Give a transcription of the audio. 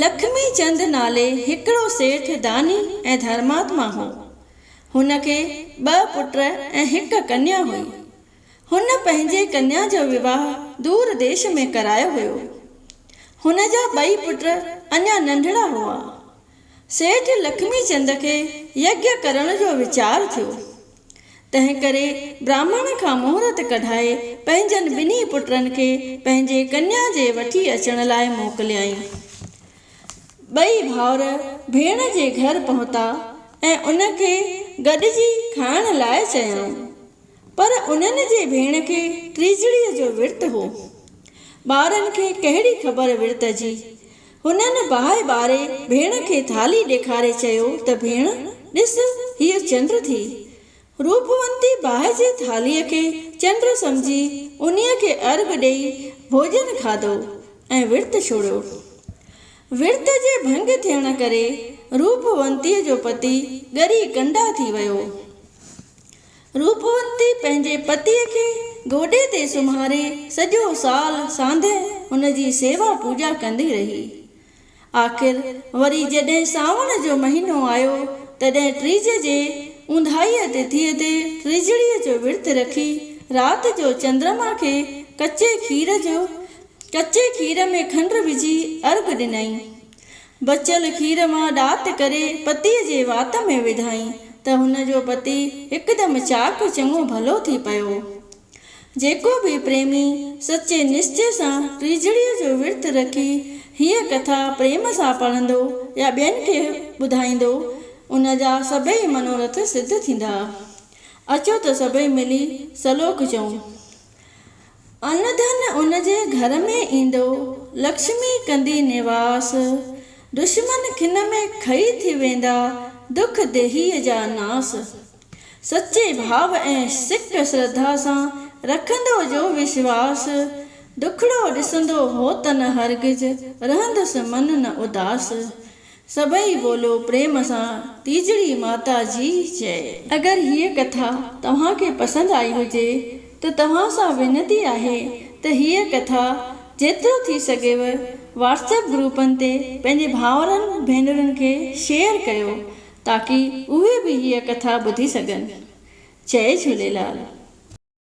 لکمي چند نالي هڪڙو سيٺ داني ۽ ڌرماتما هو. هن کي ٻه پٽ ۽ هڪ ڪنيا هئي. هن پنهنجي ڪنيا جو وواهه دور ديش ۾ ڪرايو هيو. هن جا ٻئي پٽ اڃا ننڍڙا هئا. سيٺ لکمي چند کي يگيا ڪرڻ جو ويچار ٿيو. تنهن ڪري براهمڻ کان مهرت ڪڍائي پنهنجن ٻنهي پٽن کي پنهنجي ڪنيا جي وٺي اچڻ لاء موڪليائين. ٻئي ڀائر ڀيڻ جي گهر پهتا ۽ ان کي گڏجي کائڻ لاء چيائون. پر انهن جي ڀيڻ کي ٽيجڙيء جو ورت هو. ٻارن کي ڪهڙي خبر ورت جي. هنن باهه ٻاري ڀيڻ کي ٿالهي ڏيکاري چيو ته ڀيڻ ڏس هيء چنڊ ٿي. روپونتي باهه جي ٿالهيء کي چنڊ سمجهي انهيء کي ارغ ڏيئي ڀوڄن کاڌو ۽ ورت ڇوڙيو. ورت جي ڀنگ ٿيڻ ڪري روپونتيء جو پتي ڳري ڪنڊا ٿي ويو. روپوتي پنهنجي پتيء کي گوڏي تي سمهاري سڄو سال سانده هن جي سيوا پوڄا ڪندي رهي. آخر وري جڏهن سانوڻ جو مهينو آيو تڏهن ٽيج جي اونداهيء تٿيء تي ٽيجڙيء جو ورت رکي رات جو چندرما کي ڪچي کير جو ڪچي کير ۾ کنڊ وجهي ارگ ڏنائين. بچيل کير مان ڏات ڪري پتيء جي وات ۾ وڌائين ته هن جو پتي هڪدم چاڪ چڱو ڀلو ٿي پيو. جيڪو به پريمي سچي نشچي سان ٽيجڙيء جو ورت رکي هيء ڪٿا پريم سان پڙهندو يا ٻين کي ٻڌائيندو، ان جا سڀئي منورٿ سڌ ٿيندا. اچو ته سڀئي ملي سلوڪ چئون. ان ڌن ان جي گهر ۾ ايندو، لڪشمي ڪندي نواس، دشمن کن ۾ کئي ٿي ويندا، دک ديهيء جا ناس. سچي ڀاء ۽ سڪ سرڌا سان، رکندو جو وشواس، دکڙو ڏسندو هو ته نه هرگز، رهندس من نه اداس. سڀئي ٻولو پريم سان ٽيجڙي ماتا جي جئي. اگر هيء ڪٿا توهان کي پسند آئي هجي ته توهان سان وينتي آهي ته هيء ڪٿا جيترو ٿي سگهيو واٽسپ گروپن تي پنهنجي ڀائرن ڀينرن کي شيئر ڪيو تاڪي اهي به هيء ڪٿا ٻڌي سگهن. جئي جهوليلال.